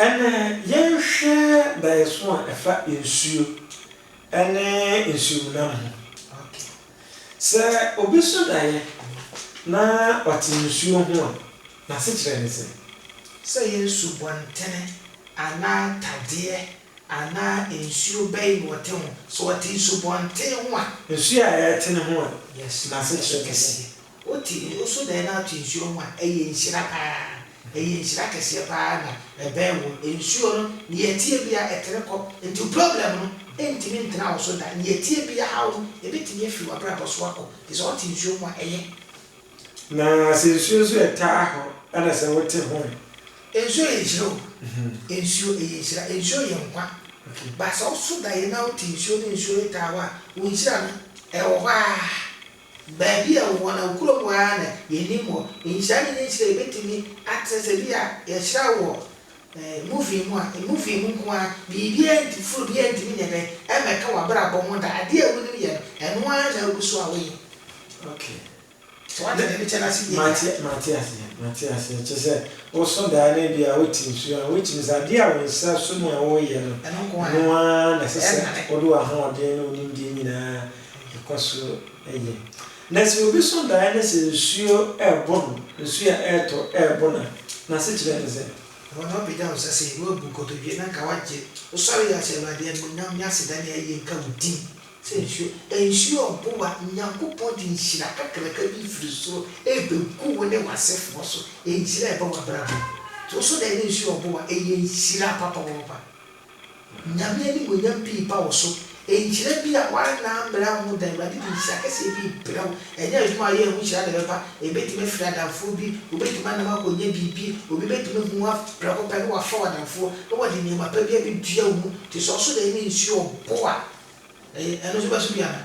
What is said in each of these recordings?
Ɛnnɛ, yɛnhwɛ daeɛso a ɛfa nsuo ne nsuomnam ho. Sɛ obi so daeɛ na ɔte nsuo ho a, n'asekyerɛ ne sɛn? Sɛ ɛyɛ nsubɔntene anaa tadeɛ anaa nsuo bɛn na ɔte ho? Sɛ ɔte nsubɔntene ho a. Nsuo a ɛretene ho a, n'asekyerɛ ne sɛn? Wo te nne nso na ɛnam te nsuo ho a, ɛyɛ nhyira pa ara. Ɛyɛ nhyira kɛseɛ pa ara na ɛbɛn wo. Nsuo no, nea ɛteɛ biara, ɛtene kɔ. Enti problem no ntumi ntena wo so da. Nea ɛteɛ biara, haw no, ɛbɛtumi afiri w'abrabɔ so akɔ. Te sɛ wote nsuo ho a, ɛyɛ. Na sɛ nsuo nso yɛ taa hɔ ɛna sɛ wote ho ɛ? Nsuo yɛ nhyira o. Nsuo, ɛyɛ nhyira. Nsuo yɛ nkwa. But sɛ wo so daeɛ na wote nsuo ne nsuo yɛ taa hɔ a, wo nhyira no, ɛwɔ hɔ ara. Baabi a wɔwɔ no, kurom hɔ ara na yenim hɔ. Nhyira ne ne nhyira a ebetumi atrɛ sɛ bi a yɛhyira wɔ movie mu a, movie mu nko ara, biribiara nti, foro biara ntumi nyɛ dɛn mmɛka w'abrabɔ ho da. Ade a wunim yɛ no, ɛno ara na agu so a woyɛ. Okay. So woate nea mekyɛ no ase yiye a? Mate, mate aseɛ, mate aseɛ. Kyerɛ sɛ, wosõ daa na ebia wote nsuo a, which means adeɛ a wo nsa sõ mu a woreyɛ no, Ɛno nko ara. ɛno ara na ɛsɛ sɛ Ɛnhane. wode w'ahoɔden ne wo nimdeɛ nyinaa Ɛkɔ so yɛ. Na sɛ obi so daeɛ na sɛ nsuo rebɔ no, nsuo a ɛretɔ rebɔ no a, n'asekyerɛ ne sɛn? Ɛhɔ na wobɛgya wo nsa sei, na woabu nkotodwe, na anka woagye. Wosɔre yɛ a, hyɛ Awurade animuonyam ne aseda ne ayie nka wo din. Sɛ nsuo, nsuo rebow a, Nyankopɔn de nhyira kakraka bi firi soro rebɛgu wo ne w'asefoɔ so. Ɛyɛ nhyira a ɛba w'abrabɔ mu. Nti woso daeɛ na nsuo rebow a, ɛyɛ nhyira papapaapa. Nyame animuonyam pii ba wo so. Nhyira bi a woanna ammrɛ wo ho da. Awurade de nhyira kɛseɛ bi rebrɛ wo. Ɛnyɛ adwuma a woyɛɛ ho nhyira na ɛbɛba. Ɛbɛtumi afiri adamfoɔ bi, wobɛtumi anam akɔnya biribi, obi bɛtumi ahu wo prɛko pɛ na wafa wo adamfoɔ na wɔde nneɛma pa bi abɛdua wo mu te sɛ ɔsodɛn ne nsuo ɔbo a ɛyɛ ɛno nso bɛso bi anaa?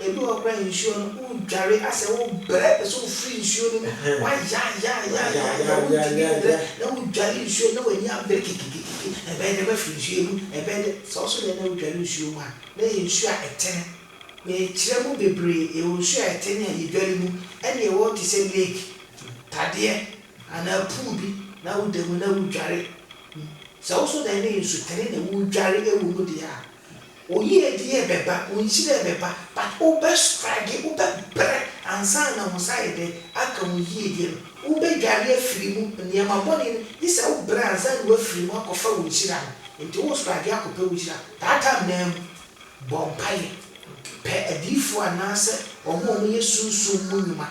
Ebi wɔ hɔ koraa nsuo no wo dware asɛ wo brɛ pɛ sɛ wo firi nsuo no mu wa yayayayaya wo ntumi nbrɛ na wo dware nsuo no na w'ani abre kikikiki ɛbɛyɛ dɛ mafiri nsuo yi mu ɛbɛyɛ dɛ sɛ ɔso deɛ na wo dware nsuo mu a na ɛyɛ nsuo a ɛtene me kyerɛ mo bebree yɛwɔ nsuo a ɛtene a yɛ dware mu ɛne ɛwɔ te sɛ lake tadeɛ anaa pool bi na wo da mu na wo dware sɛ wo so deɛ na ɛyɛ nsutene na wo dware ɛwɔ mu deɛ a Wo yiedie bɛba, wo nhyira bɛba but wo bɛ struggle, wo bɛ brɛ ansa na wo nsa ayɛ dɛn aka wo yiedie no. Wo bɛ dware afiri mu, nneɛma bɔne no, gye sɛ wo brɛ ansa na w'afiri mu akɔ fa wo nhyira no. Nti wo struggle akɔ pɛ wo nhyira. That time no ara mu, bɔ mpaeɛ, pɛ adiyifoɔ anaa sɛ wɔn a wɔn yɛ sunsum mu nnwuma,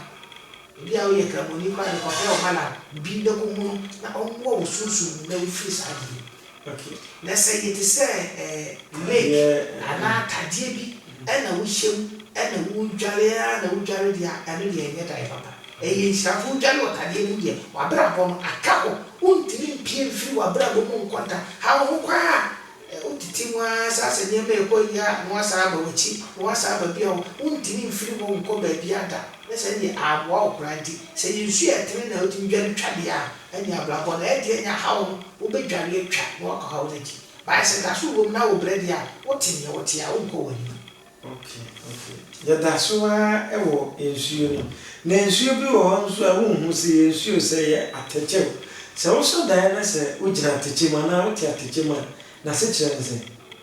ebi a wo yɛ kramoni koraa de kɔ pɛ ɔmalam bi na kɔ hunu no na ɔmmoa wo sunsum mu na wo firi saa adeɛ yi mu. Ok, na sɛ yɛ te sɛ eh lake anaa tadeɛ bi ɛna wo hyɛ mu ɛna wo dware aa na wo dware deɛ a ɛno deɛ ɛnyɛ da yɛ papa. Ɛyɛ nhyira nso wo dware wɔ tadeɛ mu deɛ w'abrabɔ no aka hɔ. Wo ntumi mpue mfiri w'abrabɔ mu nkɔ da. Haw ho kwa aa eh wo tete mu aa saa sɛ nneɛma ɛkɔ yie aa na w'asan aba w'akyi na w'asan aba bia wo wo ntumi mfiri hɔ nkɔ baabiaa da. Nyɛ saa deɛ aa boa wo koraa nti sɛ yɛ nsuo a ɛtene na wo tumi dware twa deɛ a Ɛnni abrabɔ no ɛdeɛ nya haw no wobɛdware atwa na woakɔ haw no akyi. Bae sɛ daso wom na wobrɛ deɛ a, wote neɛ wote a wonkɔ w'anim. Ok ok yɛda so ara wɔ nsuo no mu na nsuo bi wɔ hɔ nso a wonhu sɛ ɛyɛ nsuo o sɛ ɛyɛ atɛkyɛ o sɛ wosɔ daeɛ na sɛ wogyina atɛkyɛ mu anaa wote atɛkyɛ mu a n'asekyerɛ ne sɛn?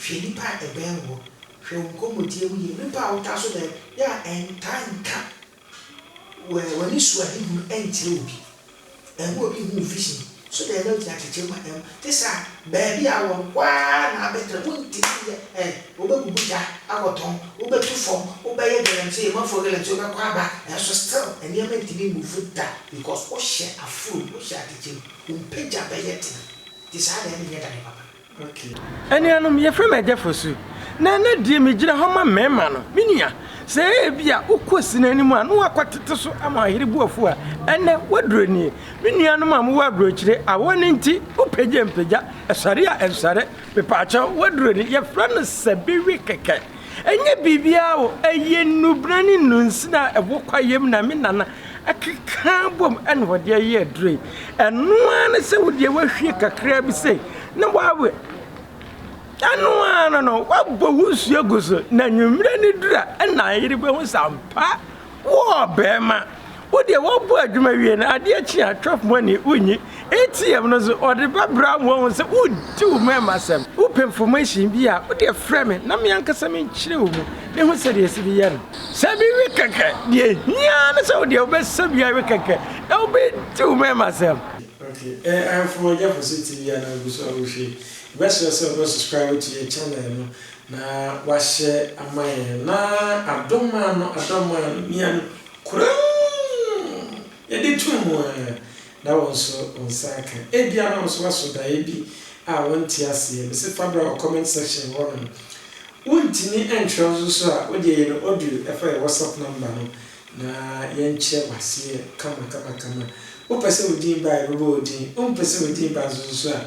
Hwɛ nnipa a ɛbɛn woɔ. Hwɛ wo nkɔmmɔdie mu yie. Nnipa a wotaa so dɛn yɛ a ɛntaa nka w'anisoadehunu nkyerɛ obi. Ɛmma obi nhu wo vision. So dɛn na wogyina kyekyere mu a ɛmma wo. Te saa baabi a wowɔ no, hɔ ara na abɛtra. Wontumi nyɛ ɛ. Wobɛbubu gya akɔtɔn, wobɛtu fam, wobɛyɛ galamsey, ɔmanfoɔ galamsey, wobɛkɔ aba, nanso still nneɛma ntumi mmuvu da because wohyɛ aforom, wohyɛ atɛkyɛ mu. Wo mpagya bɛyɛ den. Nti saa deɛ ɛnneɛ ɛda no papa. Okay. Anuanom, yɛfrɛ me Agya Fosu, na ɛnnɛ deɛ megyina ha ma mmarima no. Me nua, sɛ ebia wokɔ Asina anim a na wɔakɔtete so ama ɔyere bo afu a, ɛnnɛ w'aduro nie. Me nuanom a mowɔ aburokyire, awɔ no nti, wopagya mpagya, ɛsɔre a ɛnsɔre, mepaakyɛw, w'aduro ni, yɛfrɛ no Sɛbiwi kɛkɛ. Ɛnyɛ biribiara o, ɛyɛ nnubena ne nnunsin a ɛwɔ kwaeɛm na me nana akeka bom na ɔde ayɛ aduro yi. Ɛno ara ne sɛ wo deɛ woahwie kakra bi sei na woawe. Ɛno ara no no, woabɔ wo nsuo agu so na anwummerɛ no duru a ɛna ayere bɛhu sɛ ampa Wo ɔbarima, wo deɛ woabɔ adwuma wie na adeɛ kye a chop money wonyi ATM no so ɔde bɛbra wo wahu sɛ wodi wo mmarima asɛm. Wopɛ information bi a wo deɛ frɛ me na me ankasa menkyerɛ wo mu na hu sɛdeɛ yɛsi de yɛ no. Sɛ bi we kɛkɛ, deɛ ɛhia ara ne sɛ wo deɛ wobɛsɛ bi awe kɛkɛ na wobɛdi wo mmarima asɛm. Ok eh ahemfo mogya fose tv anaa gu so a wohwɛ yi. Yɛbɛsrɛ sɛ wobɛ subscribe to yɛ channel no. Na wahyɛ ama yɛn. Na adɔ maa no, adɔ maa no, mia no kurumm! Yɛde too mu ara, na wo nso wo nsa aka. Ebia na wo nso woaso daeɛ bi a wonte aseɛ. Mese fa bra wɔ comment section hɔ nom. Wontumi ntwerɛ nso so a, wodeɛ yɛ no audio fa yɛ WhatsApp number no na yɛnkyerɛ wo aseɛ kama kama kama. Wopɛ sɛ wo din ba a, yɛbɛbɔ wo din. Wompɛ sɛ wo din ba nso so a,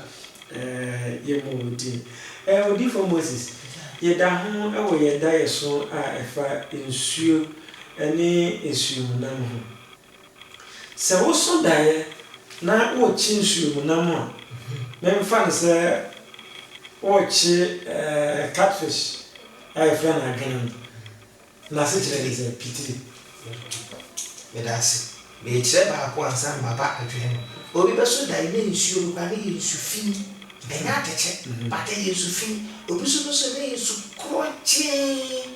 Yɛ mo din. Odiyifoɔ Moses, yɛda ho wɔ yɛn daeɛso a ɛfa nsuo ne nsuo mu nam ho. Sɛ woso daeɛ na worekye nsuo mu nam a, memfa no sɛ worekye catfish a yɛfrɛ no adwenem. N'asekyerɛ ne sɛ pitiri. Meda ase. Merekyerɛ baako ansa na maba adwene no. Obi bɛso dae na nsuo no koraa na ɛyɛ nsu fi. Ɛnyɛ atɛkyɛ, but ɛyɛ nsu fi. Obi nso bɛso na ɛyɛ nsu korɔgyee.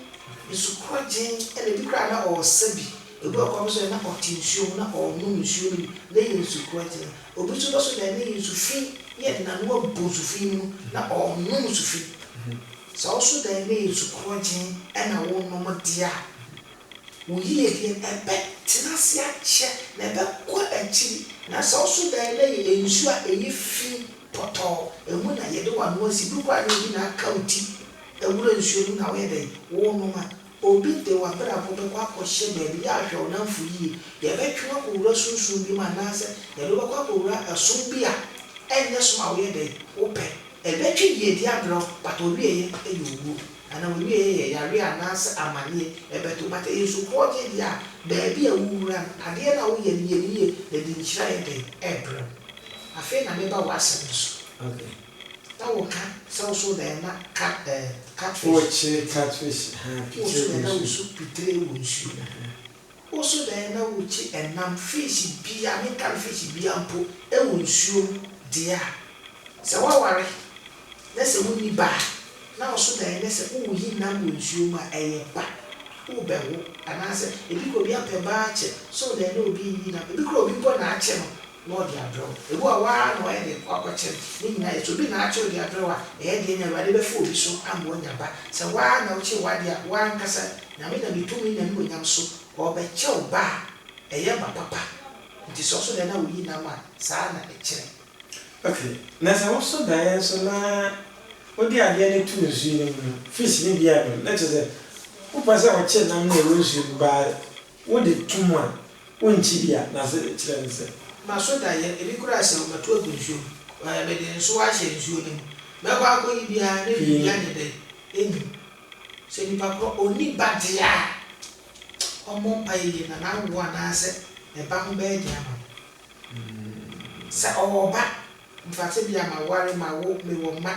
Nsu korɔgyee, ɛna ebi koraa na ɔresa bi. Obi wɔ hɔ koraa wobɛso dae na ɔte nsuo ho na ɔrenom nsuo no bi na ɛyɛ nsu korɔgyee. Obi nso bɛso dae na ɛyɛ nsu fi na yɛde n'ano abu nsu fi no mu na ɔrenom nsu fi. Sɛ wo so dan no yɛ nsu korɔgyenn na wonom deɛ a, wo yiedie no, ɛbɛtena ase akyɛ, na ɛbɛkɔ akyiri. Na sɛ wo so dan no yɛ nsu a ɛyɛ fi pɔtɔɔ, emu na yɛde w'ano asi, bi koraa na obi na aka wo ti wura nsuo no mu na woyɛ dɛn? Wonom a, Obi de w'abrabɔ bɛkɔ akɔhyɛ baabi yɛ ahwɛ wo nnamfo yie, yɛbɛtwe wo akɔwura sunsum bi mu anaasɛ yɛde wo bɛkɔ akɔwura ɛsom bi a ɛnyɛ som a woyɛ dɛn? Wopɛ. Ɛbɛtwe yiedie abrɛ wo but ɔwieɛ yɛ owuo anaa ɔwieɛ yɛ yareɛ anaasɛ amaneɛ ɛbɛto but ɛyɛ nsupɔɔgyeɛ deɛ a baabi a wowura no adeɛ no a woyɛ no yɛ no yie na ɛde nhyira yɛ dɛn ɛbrɛ wo. Afei na meba w'asɛm no so. Okay. Na wo ka sɛ wo so na ɛma ka eh catfish. Wo kye catfish ha pitre wo nsuo. Wo so na ɛna wo so pitre wo nsuo. Wo so na ɛna wo kye ɛnam fish biaa me nka no fish biaa mpo ɛwɔ nsuo mu deɛ a. Sɛ wa ware na sɛ wo nni ba a na wo so na ɛnɛ sɛ wo yi nam wɔ nsuo mu a ɛyɛ ba wo bɛ wo anaa sɛ ebi kura obi apɛ baa kye so na ɛna obi yi nam ebi kura obi mpo na akye no na ɔde abrɛw. Ebu a woara na ɔyɛ de kɔ akɔkyɛn ne nyinaa yɛ. Sɛ obi na akyɛ ɔde abrɛw a, ɛyɛ den na Awurade bɛfa obi so ama oanya ba. Sɛ woara na wokyɛ w'ade a, woankasa, Nyame nam ne tumi ne n'anuonyam so, ɔrebɛkyɛ wo ba a ɛyɛ ba papa. Enti sɛ ɔsɔ daeɛ na woyi nam a, saa ara na ɛkyerɛ. Ok, na sɛ wosɔ daeɛ nso na wode adeɛ no to nsuo no mu no, fish no bi a ɛbɛn, na kyerɛ sɛ wopɛ sɛ ɔkyɛ nam no a ɛwɔ nsuo mu ba a, Wo de to mu a, wo nkyi bi a, na se kyerɛ no sɛ. Maso da yɛ, ebi koraa se wo mɛto agu nsuo mu, ɛɛ mede nsoɔ ahyɛ nsuo no mu, mɛkɔ akɔyi bi ara ne biribi anye dɛ ɛnyi. Sɛ nipa korɔ ɔnni ba deɛ a, ɔmmɔ mpaeɛ yie na n'awoɔ anaasɛ ɛba ho bɛyɛ den ama no. Sɛ ɔwɔ ba. Mfa tebea maware mawo mewɔ mma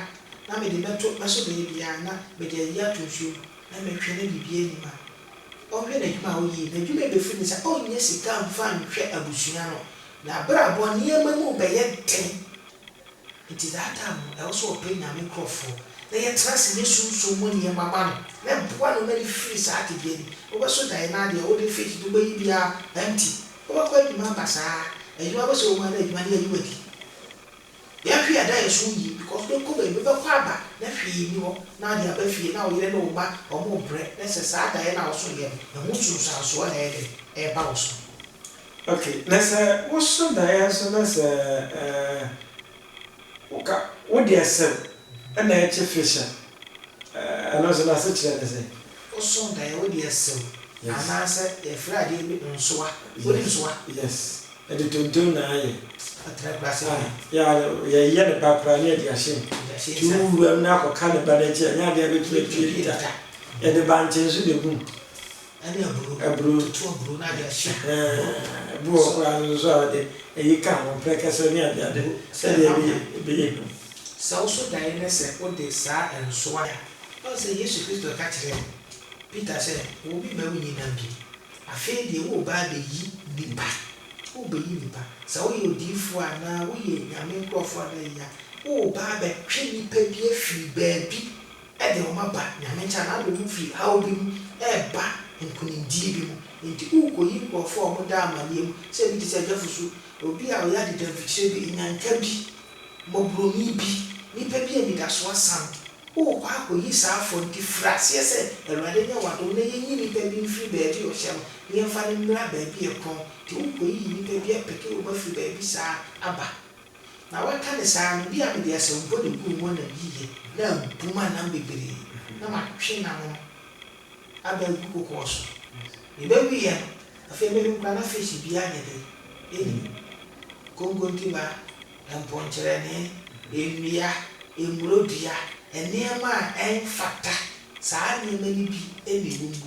na mede bɛto bɛso baabi a na mede ayi ato nsuo mu na mɛtwe na biribiara nnim a ɔnhwɛ n'adwuma a ɔyie n'adwuma a bɛfiri ne nsa ɔnnya sika mfa nhwɛ abusua no n'abrabɔ nneɛma mu bɛyɛ den nti that time no ɛwɔ sɛ ɔpɛ Nyame nkorɔfoɔ na yɛtena ase yɛ sunsum mu nneɛma ma no na ɛboa no ma ne firi saa tebea nim wobɛso daeɛ no adeɛ a wode fake de wobɛyi biara empty. Wobɛkɔ adwuma aba saa. Adwuma bɛsɛ wo ma na adwuma no yɛ adwuma di. Yɛn hwee da yɛn so yie because wobɛkɔ baabi wobɛkɔ aba na hwee nni hɔ na wode aba fie na wo yere ne wo mma wɔrebrɛ na sɛ saa daeɛ no a woso yɛ no ɛho nsunsuansoɔ na ɛyɛ dɛn ɛreba wo so. Okay na sɛ woso daeɛ nso na sɛ Woka wo deɛ sɛm ɛna ɛkye fish a, ɛno nso n'asekyerɛ ne sɛn? Woso daeɛ wo deɛ sɛm anaasɛ yɛfrɛ adeɛ bi nsoa, wonim nsoa? Yes, yɛde tontom na ayɛ. Ɔtena kura ase deɛ. Yeah, yɛyɛ ne ba koraa na yɛde ahyɛ mu. Yɛde ahyɛ nsa. Tu wuram na akɔka ne ba no akyi a, ɛnyɛ adeɛ a ɛbɛtumi atwi adwitwa. Yɛde bankye nso na ɛgu mu. Ɛne aburo. Aburo. Tutu aburo no ade ahye. Ɛhɛɛ. Bi wɔ hɔ koraa no nso a wɔde ayi ka ho, prɛkɛsɛ ne adeade sɛdeɛ ɛbɛyɛ ɛbɛyɛ hu. Sɛ wo so daeɛ ne sɛ wode saa nso a. Woahu sɛ Yesu Kristo ka kyerɛɛ Peter sɛ, Wo me mma wonyi nam bio. Afei deɛ woreba abɛyi nnipa. Worebɛyi nnipa. Sɛ woyɛ odiyifoɔ anaa woyɛ Nyame nkorɔfoɔ anaa yei a, woreba abɛtwe nnipa bi afiri baabi. de wɔn aba Nyame nkyɛn anaa wode wɔn firi haw bi mu reba nkonimdie bi mu. Enti worekɔyi nkurɔfoɔ a wɔda amanneɛ mu sɛ ebi te sɛ agya Fusu, obi a ɔyɛ adedamfikyire bi, nyanka bi, mmɔborɔni bi, nipa bi a anidasoɔ asa no. Worekɔ akɔyi saa afoɔ no nti firi aseɛ sɛ Awurade nyɛ w'adom na yɛnyi nipa bi mfiri baabi a ɔhyɛ no na yɛmfa no mmra baabi a ɛkorɔn. Enti worekɔyiyi nipa bi apeke wɔn afiri baabi saa aba. Na waka ne saa no, bi a mede asɛmpɔ na eguu mu nam yiye. Na mpo manam bebree, na matwe n'ano no aba agu kokoɔ so. Mebɛweeɛ no, afei mehu koraa na fish biara nyɛ dɛ nni mu, konkontiba, mpɔnkyerɛne, nnua, mmuro dua, nneɛma a ɛmfata, saa nneɛma no bi na ɛwɔ mu.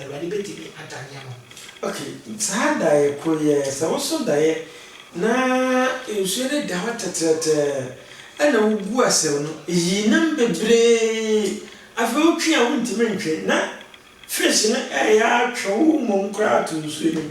Awurade bɛtumi agya nneɛma. Ok, saa daeɛ koro yi ara, sɛ woso daeɛ na nsuo no da hɔ tɛtrɛtɛɛ ɛna wogu asau no, ɛyi nam bebree, afei wotwe a wontumi ntwe na fish no ɛreyɛ atwe wo mmom koraa ato nsuo no mu.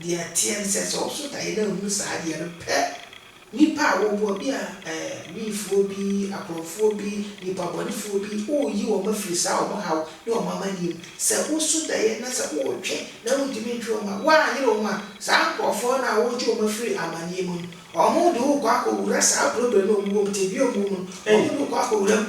Deɛ ɛteɛ ne sɛ, sɛ woso daeɛ na wohunu saa adeɛ no pɛ, nnipa a woboa, bi a eh, Wiifoɔ bi, akorɔmfoɔ bi, nnipa bɔnefoɔ bi, woreyi wɔn afiri saa wɔn haw ne wɔn amanneɛ mu. Sɛ woso daeɛ na sɛ woretwe na wontumi ntwe wɔn a, woanyere wɔn a, saa nkorɔfoɔ no a woretwe wɔn afiri amanneɛ mu no, wɔn de wo rekɔ akɔwura saa problem no a wɔwɔ mu, tebea a wɔwɔ mu no, wɔn de wo rekɔ akɔwura mu.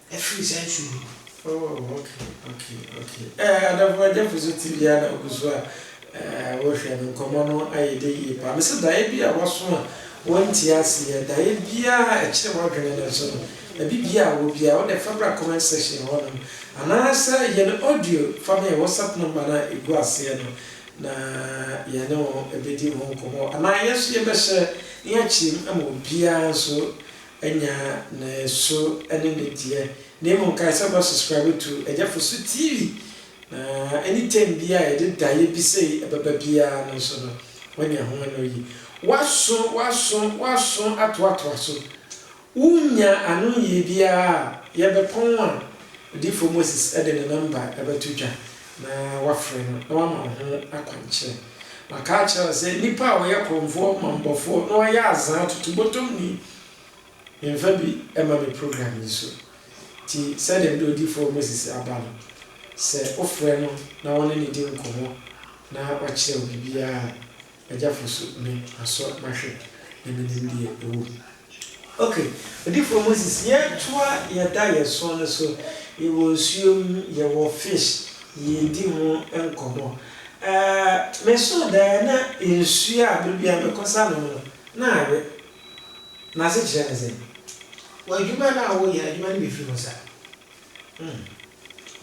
Afiri saa nsuo no mu. Oh ok ok ok eh adafo agyafo so TV a na ogu so a eh wo hwɛ no nkɔmɔ no ayɛ dɛ yie paa me se daeɛ bi a waso a wo nte aseɛ daeɛ biaa a ɛkyere wadwene no nso no ɛbi biaa a wɔ biaa wo deɛ fa bra comment section hɔ nom anaa sɛ yɛ no audio fa ma yɛn WhatsApp number no a ɛgu aseɛ no na yɛ ne wo bɛ di ho nkɔmɔ anaa yɛn nso yɛ bɛ hyɛ ne akyire mu ama obiaa nso Nya ne soro ne ne deɛ. Na mmom kae sɛ wobɛ subscribe to Agyafosu TV na any term biara a yɛde daeɛ bi sei bɛba biara no nso no woanya ho anoyi. Woaso woaso woaso atoatoa so. Wonnya anoyie biara a yɛbɛpɔn a Odiyifoɔ Moses de ne number bɛto dwa. Na wafrɛ no, na wama wo ho akwankyerɛ. Maka akyerɛ wo sɛ, nipa a ɔyɛ korɔmfoɔ, ɔmammɔfoɔ, na ɔyɛ azaa totobotomni, memfa bi mma me program yi so. Nti, sɛdeɛ mede Odiyifoɔ Moses aba no, sɛ wofrɛ no na wo ne no di nkɔmmɔ na wakyerɛ wo biribiara a, Agya fosu no asɔ mahwɛ na menim deɛ ɛwɔ mu. Ok odifoɔ Moses yɛtoa yɛda yɛsoɔ no so yɛwɔ nsuo mu yɛwɔ fish yɛredi ho nkɔmmɔ ɛɛɛ mesoo daeɛ na nsuo a berɛ biara mekɔ sa nom no na awe n'asekyerɛ ne sɛn? W'adwuma no a woyɛ adwuma no bɛfiri ho sa? Mm.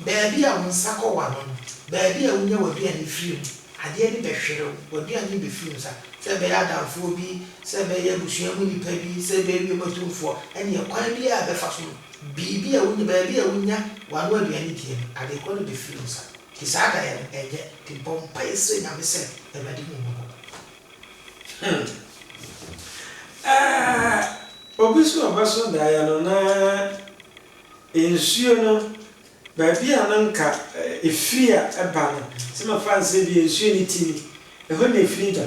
Baabi a wo nsa kɔ wa no no, baabi a wunya w'aduane firi no, adeɛ no bɛhwere wo, w'aduane bɛfiri wo nsa. Sɛ ɛbɛyɛ adamfoɔ bi, sɛ ɛbɛyɛ abusua mu nipa bi, sɛ ɛbɛyɛ wiem atumfoɔ, ɛnneɛ kwan biara a ɛbɛfa so no, biribi a wunya, baabi a wunya w'ano aduane die no, ade korɔ no bɛfiri wo nsa. Nti saa daeɛ no, ɛnyɛ den. Bɔ mpaeɛ srɛ Nyame sɛ, Awurade, hu wo mmɔbɔ. Hmm. Ah, obi nso a ɔbɛso daeɛ no na. Nsuo no, baabi a no nka ɛfiri a ɛba no, sɛ mɛfa no sɛ bia nsuo no ti ni, ɛhɔ na ɛfiri ba.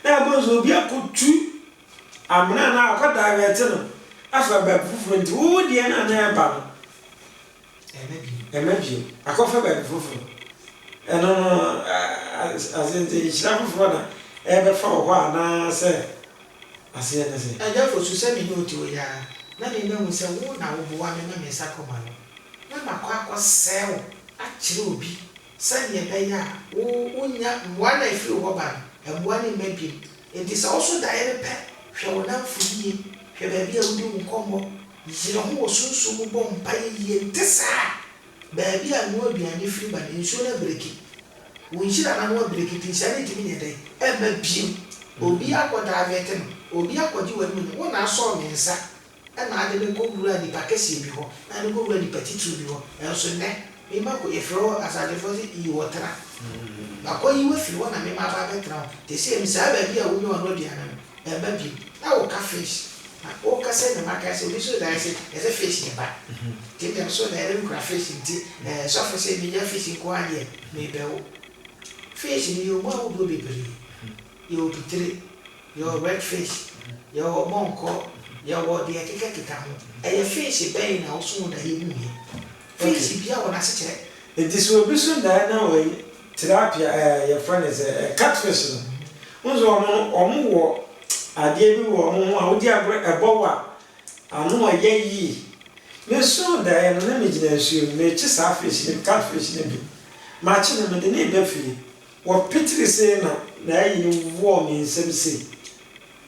Na ɛbɔ nso obi akɔtu amena anaa wakɔ divert no afa baabi foforɔ nti wo deɛ no a na ɛba no, ɛmma bio, akɔfa baabi foforɔ. Ɛno no, as in sɛ nhyira foforɔ na ɛrebɛfa wɔ hɔ anaa sɛ Aseɛ ne sɛ. Agya Fosu, sɛ me ne wo te hɔ yi ara, na me mahu sɛ wo na woboa me ma me nsa kɔ m'ano, na makɔ akɔsɛe wo akyerɛ obi sɛdeɛ ɛbɛyɛ a wo wonnya mmoa no a ɛfiri wo hɔ ba no, mmoa no mma bio. Enti sɛ wo so daeɛ no pɛ, hwɛ wo nnamfo yie, hwɛ baabi a wodi wo nkɔmmɔ, yere ho wɔ sunsum mu bɔ mpaeɛ yie, nte saa a, Baabi a noa aduane firi ba no, nsuo no abreki. Wo nhyira no ano abreki nti nhyira no ntumi nyɛ dɛn? Mma bio. Obi akɔ divert me, obi akɔgye w'animuonyam. Wo na asɔ me nsa na ade me kɔ wuraa nipa kɛseɛ bi hɔ, na ade me kɔ wuraa nipa titiriw bi hɔ. Nanso nnɛ, me ma kɔ, yɛfrɛ wo asadefoɔ sɛ yi hɔ tena. Makɔ yi wo afiri hɔ na me ma aba abɛtena hɔ. Te sɛ me saa baabi a wonya w'ano aduane no, Yɛ ba bio na wo ka fish na wo ka sɛ nyame akae sɛ obi soo daeɛ sɛ yɛsɛ fish yɛ ba nti medeɛ mesoo daeɛ no mekura fish nti ɛɛ sɔfo sɛ menya fish nko ara deɛ mebɛ wo fish no yɛwɔ mu ahodoɔ bebree yɛwɔ pitire yɛwɔ red fish yɛwɔ ɔbɔnkɔ yɛwɔ deɛ ɛkeka keka ho ɛyɛ fish bɛn na wo soo daeɛ hu yɛ fish bia wɔ nasekyerɛ. Nti sɛ obi so daeɛ na wɔ Tilapia eh yɛfrɛ no sɛ eh cat fish no wohu sɛ wɔn no wɔn wɔ adeɛ bi wɔ wɔn ho a wodi agorɔ ɛbɔ wo a ano ɛyɛ yie mesoo daeɛ no na megyina nsuo mu mekye saa fish no cat fish no bi makye no mede no reba fie wɔpetiri sei na na ayi no woɔ me nsam sei.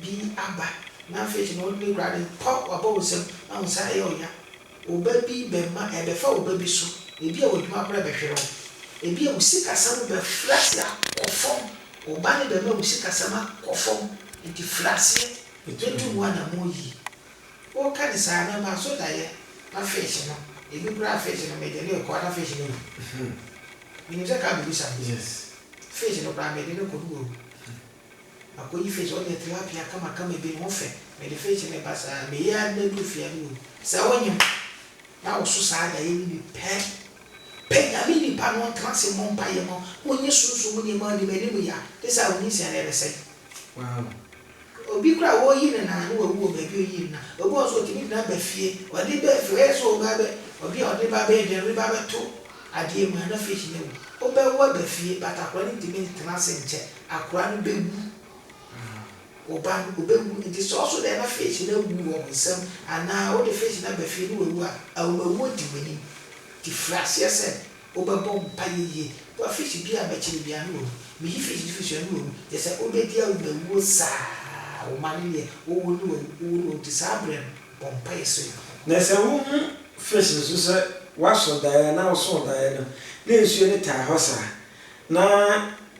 bi aba na afei so na ɔde ne gurade pɔ w'abɔwesam na wo nsa ayɛ ɔya. Wo ba bi bɛma ɛbɛfa wo ba bi so, ebia w'adwuma bere bɛhwere wo. Ebia wo sikasɛm bɛfiri ase akɔ fam, wo ba no bɛma wo sikasɛm akɔ fam. Enti firi aseɛ na tu mu anammɔn yie. Woka no saa na ɛma so da yɛ na afei so no ebi koraa afei so no mede no rekɔ na afei so no awu. Menim sɛ car bɛbisa me. Afei so no koraa mede no rekɔ na wawu. Makoyi fish ɔnyɛ tilapia kama kama bi no ho fɛ mede fish no reba saa meyɛ ara de bɛduru fie a mehu sɛ wonyem na wo so saa daeɛ no bi pɛ pɛ nyame nipa no ɔntena ase mmɔ mpaeɛ ma wo nye sunsum mu nneɛma ɔnim anim ya gye sɛ a wo nyinsɛn no ɛbɛsɛe wow obi koraa wɔreyi ne nan no wawu wɔ baabi ɔyii ne nan obi wɔ nso ɔtumi de no aba fie ɔde ba fie ɔyɛ sɛ ɔreba bɛ ɔde a ɔde ba bɛyɛ dɛn ɔde ba bɛto adeɛ mu a na fish no awu wobɛwo aba fie batakora no ntumi ntena ase nkyɛ. Akoa no bɛwu, ɔba no ɔbɛwu, nti sɛ ɔso dɛn na fish no awu wɔ wo nsam anaa wode fish no aba fie ne wawu a, awomawuo di w'anim. Nti firi aseɛ sɛ wobɛbɔ mpaeɛ yie. Boa fish biara a mɛkyere biara ne wawu. Meyi fish no firi so a ne wawu. Kyerɛ sɛ wobɛdi awomawuo saa wo mma no deɛ, wowu ne wawu, wowu ne wawu, nti saa berɛ no bɔ mpaeɛ srɛ Nyankopɔn. Na sɛ wohu fish no nso sɛ waso daeɛ anaa ɔsoo daeɛ no na nsuo no taa hɔ saa na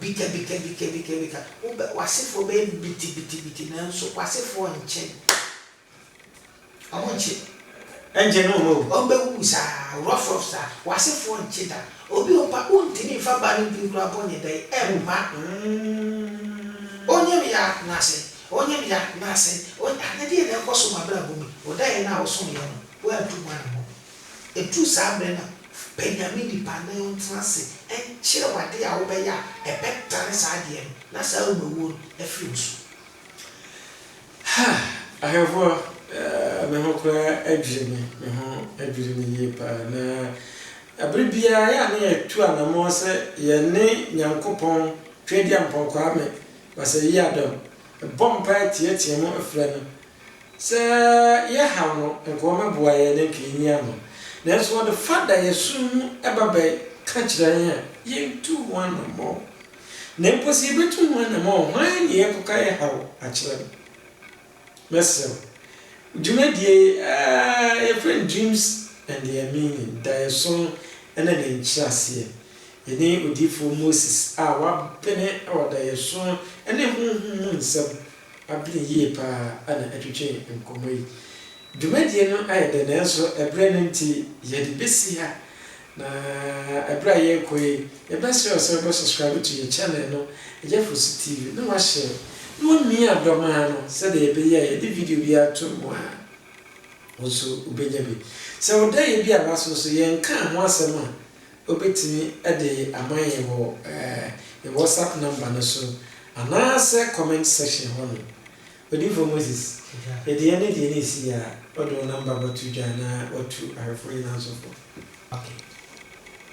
Bikabikabikabikabika, wobɛ, w'asefoɔ bɛyɛ bitibitibiti nanso w'asefoɔ nnkye. Wɔn nnkye. Ɛnnkye no wɔn awu. Wɔn bɛwuwu saa, rɔfrɔf saa. W'asefoɔ nnkye da. Obi a ɔmpa, wontumi mfa ba no din koraa bɔ ne dɛn? Ɛmma. Onyem ya n'ase, onyem ya n'ase, ony, ah, na deɛn na ɛrekɔ so wɔ m'abrabɔ mu yi? Ɔdaeɛ no a wosomeeɛ no, woantu ho anamɔn. Eduu saa bere no, pɛ nea me nipa na yɛntena ase nkyerɛ wo ade a wobɛyɛ a ɛbɛtane saa adeɛ no na saa awuawuo no afiri wo so. Ha! Ahwɛfoɔ, me ho koraa adwiri me, me ho adwiri me yie paa. Na bere biara ɛyɛ a na yɛtu anammɔn sɛ yɛne Nyankopɔn Tweaduampɔn Kwame Basayie Adom bɔ mpaeɛ teateam frɛ no Sɛ yɛhaw no nkoa bɛboa yɛn anka yenyi ano. Nanso ɔde fa da yɛn som mu ba bɛka kyerɛ yɛn a, yentu ho anammɔn. Na mpo sɛ yebetu ho anammɔn a, hwan na yɛkɔka yɛn haw akyerɛ no? Mɛsrɛ wo, dwumadi a yɛfrɛ no Dreams and Their Meaning, Daeɛsom ne ne Nkyerɛaseɛ, yɛne odiyifoɔ Moses a wapene wɔ daeɛso ne honhom mu nsɛm Abena yie pa ara na ɛtwetwee nkɔmmɔ yi. Dwumadie no ayɛ dɛ nanso ɛberɛ no nti yɛde bɛsi ha. Na ɛberɛ a yɛrekɔ yi, yɛbɛsrɛ wo sɛ wobɛ subscribe to yɛn channel no, Agyafors TV, na wa share, na wa mia dɔ ma no sɛdeɛ ɛbɛyɛ a yɛde video biara to mu a, wo nso wobɛnya bi. Sɛ wo dayɛ bi a waso nso, yɛnkaa ho asɛm a, Wobɛtumi de ama yɛn wɔ yɛn WhatsApp number no so anaasɛ comment section hɔ nom. Odiyifoɔ Moses, deɛ ne deɛ na ɛsi yɛ a, wode wo number bɛto dwa na watu ahwɛfoɔ nyinaa nso fo. Ok.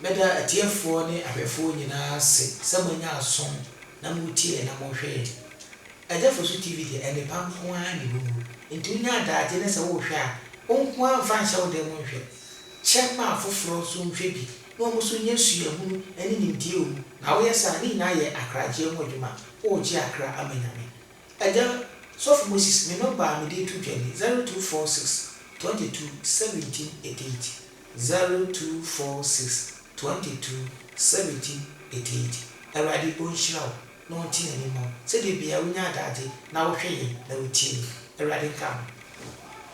Meda atiefoɔ ne ahwɛfoɔ nyinaa ase sɛ moanya asom na moretie yɛn na morehwɛ yɛn. Agya Fosu TV deɛ, nnepa nko ara na ɛwɔ mu, enti wonya adagye na sɛ worehwɛ a, wo nko ara mfa nhyɛ wo dan mu nhwɛ. Kyɛ ma afoforɔ nso nhwɛ bi na wɔn nso nya suahunu ne nimdeɛ wɔ mu, na woyɛ saa a, ne nyinaa yɛ akragyeɛ ho adwuma, woregye akra ama Nyame. Agya Sɔfo Moses, me nɔmba a mede reto dwa ni, zero two four six, twenty two, seventeen, eighty eight, zero two four six, twenty two, seventeen, eighty eight. Awurade Ɔnhyira wo na Ɔnte N'ani mma wo sɛdeɛ biaa wonya adaagye na wohwɛ yɛn na wotie yɛn. Awurade nka wo ho.